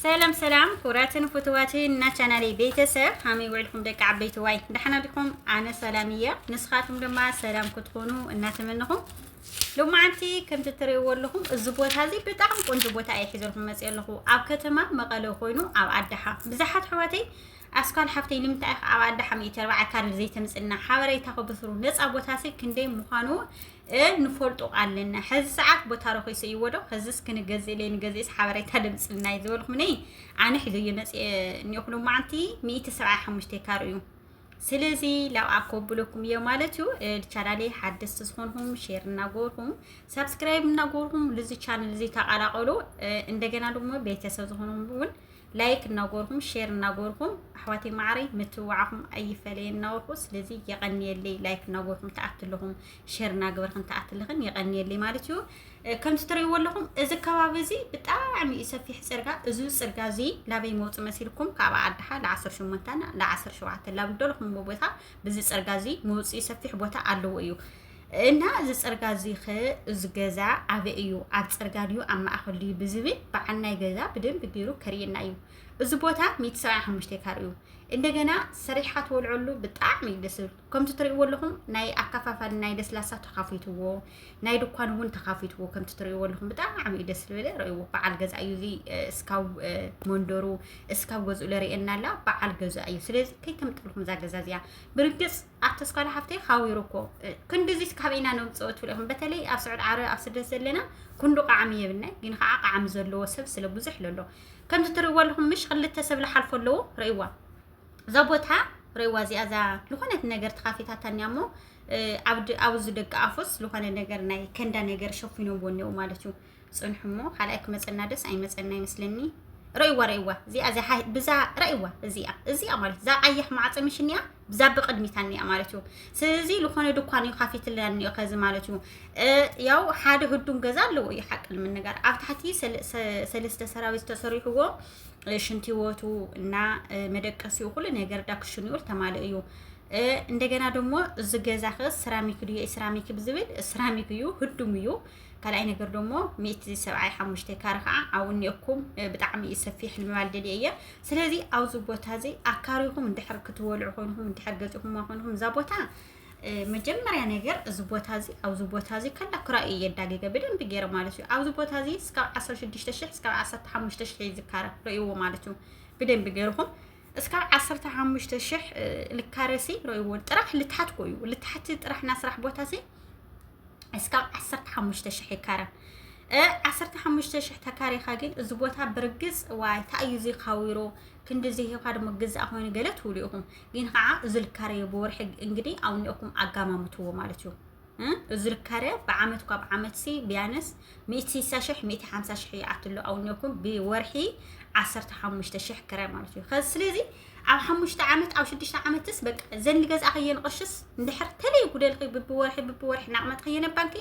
ሰላም ሰላም ክቡራትን ፍትዋትን እና ቻናለይ ቤተሰብ ሃመይ ውዕልኩም ደቂ ዓበይቲ ዋይ ዳሕና ዲኹም ኣነ ሰላም እየ ንስኻትኩም ድማ ሰላም ክትኮኑ እናተመንኹም ሎማዓንቲ ከምቲ እትርእይዎ ኣለኹም እዚ ቦታ እዚ ብጣዕሚ ቆንጆ ቦታ እየ ሒዘልኩም መፅእ ኣለኹ ኣብ ከተማ መቐለ ኮይኑ ኣብ ኣዳሓ ብዙሓት ሕዋተይ ኣስኳል ሓፍተይ ንምንታይ ኢኻ ኣብ ኣዳሓ ሚእቲ ኣርባዓ ካርድ ዘይተምፅና ሓበሬታ ከብስሩ ነፃ ቦታ ሲ ክንደይ ምዃኑ እህ ንፈልጦ ኣለና ሐዚ ሰዓት ቦታ ረኺሰ ይዎ ዶ ኸዝስ ክንገዝእ ለይ ንገዝእስ ሓበሬታ ደምፅልና እዩ ዝበልኩም ነይ ኣነ ሒዘዮ መፅእ እኒኦኹ ሎማዓንቲ ሚእቲ ሰብዓ ሓሙሽተ ካር እዩ ስለዚ ላብኣ ከብለኩም እዮ ማለት እዩ ቻናለይ ሓደስቲ ዝኾንኹም ሼር እናገበርኩም ሳብስክራይብ እናገበርኩም ልዚ ቻነል እዚ ተቀላቀሉ እንደገና ድማ ቤተሰብ ዝኾንኩም እውን ላይክ እናጎርኩም ሼር እናጎርኩም ኣሕዋተይ ማዕረይ ምትውዓኹም ኣይፈለየና ወርቁ ስለዚ የቐንየለይ ላይክ እናጎርኩም ተኣትልኹም ሼር እናገበርክን ተኣትልኽን የቐንየለይ ማለት እዩ ከምቲ ትርእይዎ ኣለኹም እዚ ከባቢ እዚ ብጣዕሚ እዩ ሰፊሕ ፅርጋ እዚ ፅርጋ እዚ ላበይ መውፅ መሲልኩም ካብ ኣድሓ ለዓሰርተ ሸሞንተ ለዓሰርተ ሸውዓተ ላብደልኹምዎ ቦታ ብዚ ፅርጋ እዚ መውፅኢ ሰፊሕ ቦታ ኣለዎ እዩ እና እዚ ፅርጋ እዚ ኸ እዚ ገዛ ኣበይ እዩ ኣብ ፅርጋ ድዩ ኣብ ማእኸል ድዩ ብዝብል በዓል ናይ ገዛ ብደንብ ገይሩ ከርእየና እዩ እዚ ቦታ ሚእቲ ሰብዓን ሓሙሽተ ካር እዩ እንደገና ሰሪሕካ ትወልዐሉ ብጣዕሚ እዩ ደስ ዝብል ከምቲ ትሪእዎ ኣለኹም ናይ ኣከፋፋሊ ናይ ለስላሳ ተኻፊትዎ ናይ ድኳን እውን ተኻፊትዎ ከምቲ ትሪእዎ ኣለኹም ብጣዕሚ እዩ ደስ ዝብል ርእይዎ በዓል ገዛ እዩ እዚ እስካብ መንደሩ እስካብ ገዝኡ ለርእየና ኣላ በዓል ገዛ እዩ ስለዚ ከይተምጠልኩም እዛ ገዛ እዚኣ ብርግፅ ኣብ ተስካለ ሓፍተይ ሓዊሩ እኮ ክንድዚ ካበይ ኢና ነውፅኦ ትብሉ ኢኹም በተለይ ኣብ ስዑድ ዓረብ ኣብ ስደት ዘለና ክንዱ ቃዕሚ የብልና ግን ከዓ ቃዕሚ ዘለዎ ሰብ ስለ ብዙሕ ለሎ ከምዚ ትርእይዎ ኣለኹም ምሽ ክልተ ሰብ ልሓልፎ ኣለዎ ርእይዋ እዛ ቦታ ርእይዋ እዚኣ እዛ ዝኾነት ነገር ተኻፊታታ እኒኣ እሞ ኣብዚ ደቂ ኣፎስ ዝኾነ ነገር ናይ ከንዳ ነገር ሸፊኖምዎ እኒኡ ማለት እዩ ጽንሑ እሞ ካልኣይ ክመጸና ደስ ኣይመጸና ይመስለኒ ረእይዋ ረእይዋ እዚኣ እዚኣ ብዛ ረእይዋ እዚኣ እዚኣ ማለት እዛ ቀያሕ ማዕፀ ምሽኒያ ብዛ ብቅድሚታ እኒኣ ማለት እዩ ስለዚ ዝኾነ ድኳን እዩ ካፊትላ እኒኦ ከዚ ማለት እዩ ያው ሓደ ህዱም ገዛ ኣለዎ እዩ ሓቂ ንምንጋር ኣብ ታሕቲ ሰለስተ ሰራዊት ተሰሪሕዎ ሽንቲ ወቱ እና መደቀሲኡ ኩሉ ነገር ዳክሽን ይውል ተማልእ እዩ እንደገና ደግሞ እዚ ገዛ ኸ ስራሚክ ድዩ ስራሚክ ብዝብል ስራሚክ እዩ ህዱም እዩ ካልኣይ ነገር ደሞ ሚእቲ ሰብዓይ ሓሙሽተይ ካረ ከዓ ኣብኡ እኒኦኩም ብጣዕሚ እዩ ሰፊሕ ንምባል ደልየ እየ ስለዚ ኣብዚ ቦታ እዚ ኣካሪኹም እንድሕር ክትወልዑ ኮይንኩም እንድሕር ገፂኹማ ኮይንኩም እዛ ቦታ መጀመሪያ ነገር እዚ ቦታ እዚ ኣብዚ ቦታ እዚ ከላ ክራይ እዩ የዳገገ ብደንብ ገይረ ማለት እዩ ኣብዚ ቦታ እዚ እስካብ 16 ሽሕ እስካብ 15 ሽሕ ይዝካረ ርእይዎ ማለት እዩ ብደንብ ገይርኹም እስካብ ዓሰርተ ሓሙሽተ ሽሕ ልካረሲ ረይዎን ጥራሕ ልትሓት ኮዩ ልትሓት ጥራሕ ናስራሕ ቦታሲ እስካብ ዓሰርተ ሓሙሽተ ሽሕ ይካረ ዓሰርተ ሓሙሽተ ሽሕ ተካሪኻ ግን እዚ ቦታ ብርግፅ ዋይ እንታይ እዩ ዚካዊሮ ክንዲ ዚሂኻ ድማ ግዛእ ኮይኑ ገለ ትብሉ ኢኹም ግን ከዓ እዚ ልካረዮ ብወርሒ እንግዲህ ኣውኒኦኩም ኣጋማምትዎ ማለት እዩ እዝርካርያ ብዓመት እኳ ብዓመትሲ ቢያነስ ሚእቲ ሲሳ ሽሕ ሚእቲ ሓምሳ ሽሕ ይኣትሎ ኣውኔኩም ብወርሒ ዓሰርተ ሓሙሽተ ሽሕ ክራይ ማለት እዩ ከዚ ስለዚ ኣብ ሓሙሽተ ዓመት ኣብ ሽዱሽተ ዓመትስ በቃ ዘን ዝገዛእኸየን ቅርሽስ እንድሕር ተለይ ጉደልኺ ብብወርሒ ብብወርሒ እናቕመጥኸየን ኣብ ባንኪ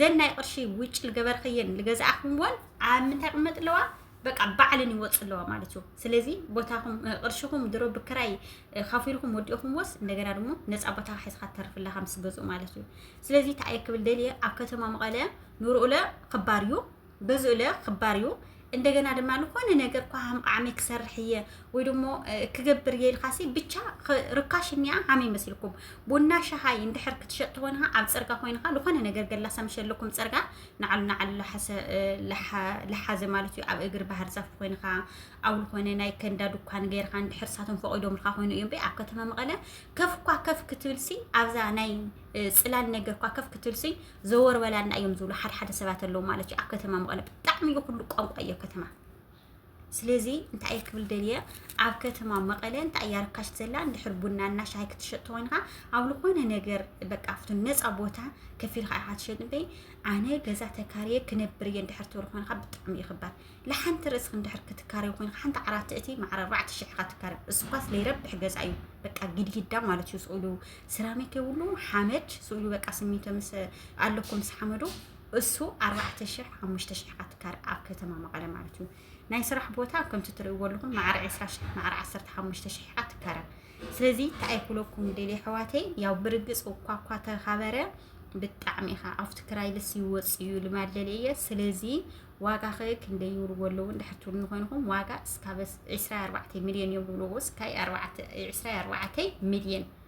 ዘን ናይ ቅርሺ ውጭ ዝገበርኸየን ዝገዛእኽዎን ኣብ ምንታይ ቅመጥ ኣለዋ በቃ ባዕልን ይወፅ ኣለዋ ማለት እዩ ስለዚ ቦታኹም ቅርሽኹም ድሮ ብክራይ ካፊልኩም ወዲእኹምዎስ እንደገና ድሞ ነፃ ቦታ ሒዝካ ትተርፍ ኣለካ ምስ ገዝኡ ማለት እዩ ስለዚ ተኣየ ክብል ደልየ ኣብ ከተማ መቐለ ንርኡለ ክባር እዩ ገዝኡለ ክባር እዩ እንደገና ድማ ንኮነ ነገር እኳ ሃምቃዓመይ ክሰርሕ እየ ወይ ድሞ ክገብር እየ ኢልካሲ ብቻ ርካሽ እኒኣ ሃመይ መስልኩም ቡና ሻሃይ እንድሕር ክትሸጥ ትኾንካ ኣብ ፅርጋ ኮይንካ ዝኾነ ነገር ገላሳ መሸለኩም ፅርጋ ንዓሉ ንዓሉ ለሓዘ ማለት እዩ ኣብ እግሪ ባህር ዛፍ ኮይንካ ኣብ ዝኾነ ናይ ከንዳ ድኳን ገይርካ እንድሕር ሳቶም ፈቂዶምልካ ኮይኑ እዮም ኣብ ከተማ መቐለ ከፍ እኳ ከፍ ክትብልሲ ኣብዛ ናይ ፅላል ነገር እኳ ከፍ ክትብልሲ ዘወር በላና እዮም ዝብሉ ሓደ ሓደ ሰባት ኣለዉ ማለት እዩ ኣብ ከተማ መቐለ ብጣዕሚ እዩ ኩሉ ቋንቋ እዮ ከተማ ስለዚ እንታይ እየ ክብል ደልየ ኣብ ከተማ መቐለ እንታይ እያ ርካሽ ዘላ እንድሕር ቡና እና ሻሂ ክትሸጥ ተኮይንካ ኣብ ዝኾነ ነገር በቃ ኣብቲ ነፃ ቦታ ከፍ ኢልካ ኢኻ ትሸጥ እምበይ ኣነ ገዛ ተካርየ ክነብር እየ እንድሕር ትብል ኮይንካ ብጣዕሚ እዩ ክባር ንሓንቲ ርእስክ እንድሕር ክትካርዮ ኮይንካ ሓንቲ ዓራት እቲ ማዕረ ኣርባዕተ ሽሕ ኢኻ ትካርዮ እሱኳስ ለይረብሕ ገዛ እዩ በቃ ጊድጊዳ ማለት እዩ ስእሉ ስራሚክ የብሉ ሓመድ ስእሉ በቃ ስሚንቶ ምስ ኣለኩም ምስ ሓመዱ እሱ ኣርባዕተ ሽሕ ሓሙሽተ ሽሕ ኣትካር ኣብ ከተማ መቐለ ማለት እዩ ናይ ስራሕ ቦታ ከምቲ ትርእይዎ ኣለኹም ማዕረ ዕስራ ሽሕ ማዕረ ዓሰርተ ሓሙሽተ ሽሕ ኣትካረ ስለዚ እንታይ ኩለኩም ደሊ ኣሕዋተይ ያው ብርግፅ እኳ እኳ ተኻበረ ብጣዕሚ ኢኻ ኣብቲ ክራይ ልስ ይወፅ እዩ ልማድ ደሊ እየ ስለዚ ዋጋ ከ ክንደይ ይብልዎ ኣለዉ እንድሕር ትብሉ ንኮይንኹም ዋጋ እስካብ ዕስራ ኣርባዕተ ሚልዮን እዮም ዝብልዎ እስካይ ዕስራ ኣርባዕተ ሚልዮን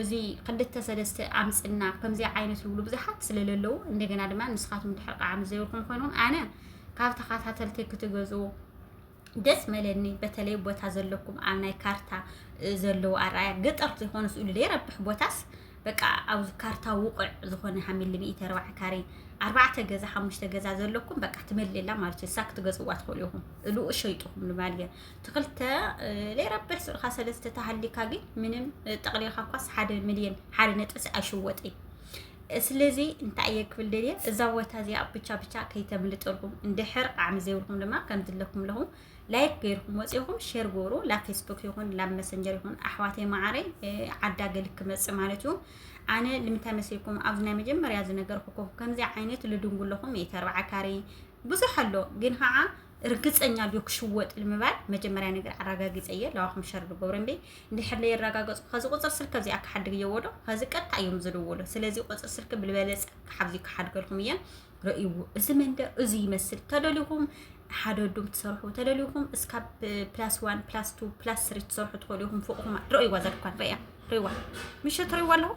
እዚ ክልተ ሰለስተ ኣምፅና ከምዚ ዓይነት ዝብሉ ብዙሓት ስለለለዉ እንደገና ድማ ንስኻትኩም ድሕሪ ቃዓ ምስ ዘይብልኩም ኮይኑን ኣነ ካብ ተኸታተልቲ ክትገዝኡ ደስ መለኒ በተለይ ቦታ ዘለኩም ኣብ ናይ ካርታ ዘለዉ ኣርኣያ ገጠር ዝኾኑ ስእሉ ዘይረብሕ ቦታስ በቃ ኣብ ካርታ ውቕዕ ዝኾነ ሃሚሊ ሚእቲ ኣርባዕ ካሬ ኣርባዕተ ገዛ ሓሙሽተ ገዛ ዘለኩም በቃ ትመልላ ማለት እዩ እሳ ክትገዝዋ ትኽእሉ ኢኹም እልኡ ሸይጡኹም ንማል ትክልተ ለይረብሕ ስርካ ሰለስተ ተሃሊካ ግን ምንም ጠቅሊልካ እኳስ ሓደ ሚልዮን ሓደ ነጥብ ኣይሽወጥ እዩ ስለዚ እንታይ እየ ክብል ደልየ እዛ ቦታ እዚኣ ብቻ ብቻ ከይተምልጠልኩም እንድሕር ቃዕሚ ዘይብልኩም ድማ ከም ዝለኩም ኣለኹ ላይክ ገይርኩም ወፂኹም ሼር ጎሩ ላብ ፌስቡክ ይኹን ላብ መሰንጀር ይኹን ኣሕዋተይ መዓረይ ዓዳ ገል ክመፅ ማለት እዩ ኣነ ልምንታይ መስልኩም ኣብዚ ናይ መጀመርያ ዝነገርኩኩም ከምዚ ዓይነት ልድንጉለኹም እየ ተርባዓ ካሬ ብዙሕ ኣሎ ግን ከዓ እርግጸኛ ድዮ ክሽወጥ ኢሉ ምባል መጀመርያ ነገር ኣራጋጊጸ እየ ለዋኹም ሸር ድገብሮ እምበይ እንድሕር ለየራጋገጹ ከዚ ቁጽር ስልክ ከዚኣ ክሓድግ እየዎዶ ከዚ ቀጥታ እዮም ዝድውሉ ስለዚ ቁጽር ስልክ ብልበለጸ ክሓብዚ ክሓድገልኩም እየ ርእይዎ እዚ መንደ እዚ ይመስል ተደሊኹም ሓደ ዱም ትሰርሑ ተደሊኹም እስካብ ፕላስ ዋን ፕላስ ቱ ፕላስ ስሪ ትሰርሑ ትኽእሉ ኢኹም ፎቕኹም ርእይዋ ዘድኳን ርእያ ርእይዋ ምሸ ትርእይዋ ኣለኹ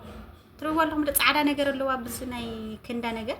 ትርእይዋ ኣለኹም ዶ ፃዕዳ ነገር ኣለዋ ብዚ ናይ ክንዳ ነገር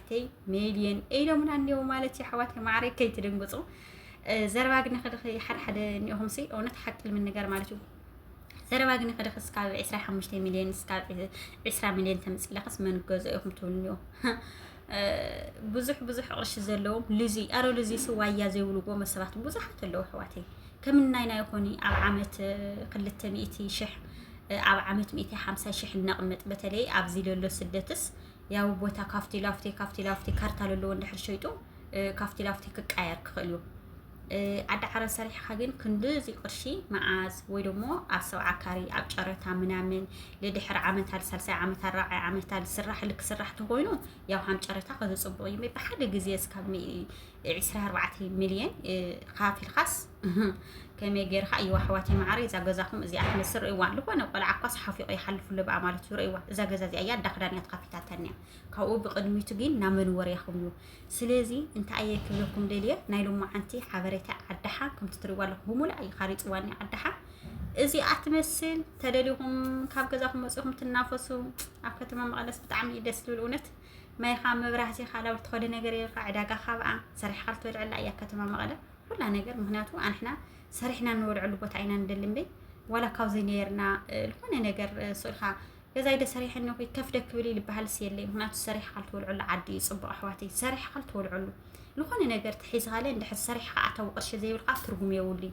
ተይ ሜድየን ኢሎምና እኒው ማለት እዩ ኣሕዋት ማዕረይ ከይትድንግፁ ዘረባ ግን ክድኺ ሓደ ሓደ እኒኦኹም ሲ እውነት ሓቂ ንምንገር ማለት እዩ ዘረባ ግን ክድኺ እስካብ 25 ሚልዮን እስካብ 20 ሚልዮን ተምፅኢለኽስ መን ገዞ ኢኹም ትብሉ እኒኦ ብዙሕ ብዙሕ ቅርሺ ዘለዎም ልዙ ኣረ ልዙ ስዋያ ዘይብልዎ መሰባት ብዙሓት ኣለዉ ኣሕዋተይ ከም ናይ ናይ ኮኒ ኣብ ዓመት ክልተ ሚእቲ ሽሕ ኣብ ዓመት ሚእቲ ሓምሳ ሽሕ እነቕምጥ በተለይ ኣብዚ ለሎ ስደትስ ያው ቦታ ካፍቲ ላፍቲ ካፍቲ ላፍቲ ካርታ ለለዎ እንድሕር ሸይጡ ካፍቲ ላፍቲ ክቃየር ክኽእል እዩ ዓዲ ዓረብ ሰሪሕካ ግን ክንድዚ ቅርሺ መዓዝ ወይ ደሞ ኣብ ሰብዓ ካሪ ኣብ ጨረታ ምናምን ልድሕር ዓመታል ሳልሳይ ዓመታል ራብዓይ ዓመታል ስራሕ ልክስራሕ ተኮይኑ ያው ሃም ጨረታ ከዚ ፅቡቅ እዩ ሜቢ ሓደ ግዜ እስካብ ዕስራ ኣርባዕተ ሚልዮን ኻፊልካስ ከመይ ጌርካ እዩ ኣሕዋት ይመዓሪ እዛ ገዛኹም እዚኣ ክመስ ርእይዋ ዝኾነ ቆልዓ እኳስ ሓፊቑ ይሓልፉ ኣለብኣ ማለት እዩ ርእይዋ እዛ ገዛ እዚኣ እያ ዳክዳን እያ ተኸፊታተን እያ ካብኡ ብቕድሚቱ ግን ናብ መንወርያኹም እዩ ስለዚ እንታይ እየ ክብለኩም ደልየ ናይ ሎማዓንቲ ሓበሬታ ዓዳሓ ከምቲ ትሪእዋ ኣለኹም ብሙሉእ እዩ ካሪፅዋኒ ዓዳሓ እዚኣ ትመስል ተደሊኹም ካብ ገዛኹም ወፂኹም ትናፈሱ ኣብ ከተማ መቐለስ ብጣዕሚ ደስ ዝብል እውነት ማይኻ መብራህቲኻ ላብር ትኸደ ነገር የልካ ዕዳጋ ካብኣ ሰሪሕካ ልትበልዐላ እያ ከተማ መቐለ ኩላ ነገር ምክንያቱ ኣንሕና ሰሪሕና እንበልዐሉ ቦታ ኢና ንደሊ እምበይ ዋላ ካብዘይ ነርና ዝኾነ ነገር ስልካ ገዛይ ደሰሪሐ እነኹ ከፍ ደክብል ይልበሃልስ የለይ ምክንያቱ ሰሪሕካ ልትበልዐሉ ዓዲ እዩ ፅቡቕ ኣሕዋተይ ሰሪሕካ ልትበልዐሉ ዝኾነ ነገር ተሒዝኻለ እንድሕር ሰሪሕካ ኣታዊ ቅርሺ ዘይብልካ ትርጉም የብሉይ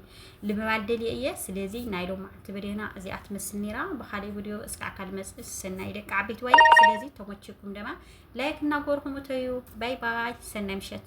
ልምባል ደልየ እየ ስለዚ ናይ ሎም መዓልቲ ቪድዮና እዚኣ ትመስል ነይራ ብካሊእ ቪድዮ እስካዕካ ልመፅእ ሰናይ ደቂ ዓበይቲ ዋይ ስለዚ ተመችኩም ደማ ላይክ እናጎርኩም እተዩ ባይ ባይ ሰናይ ምሸት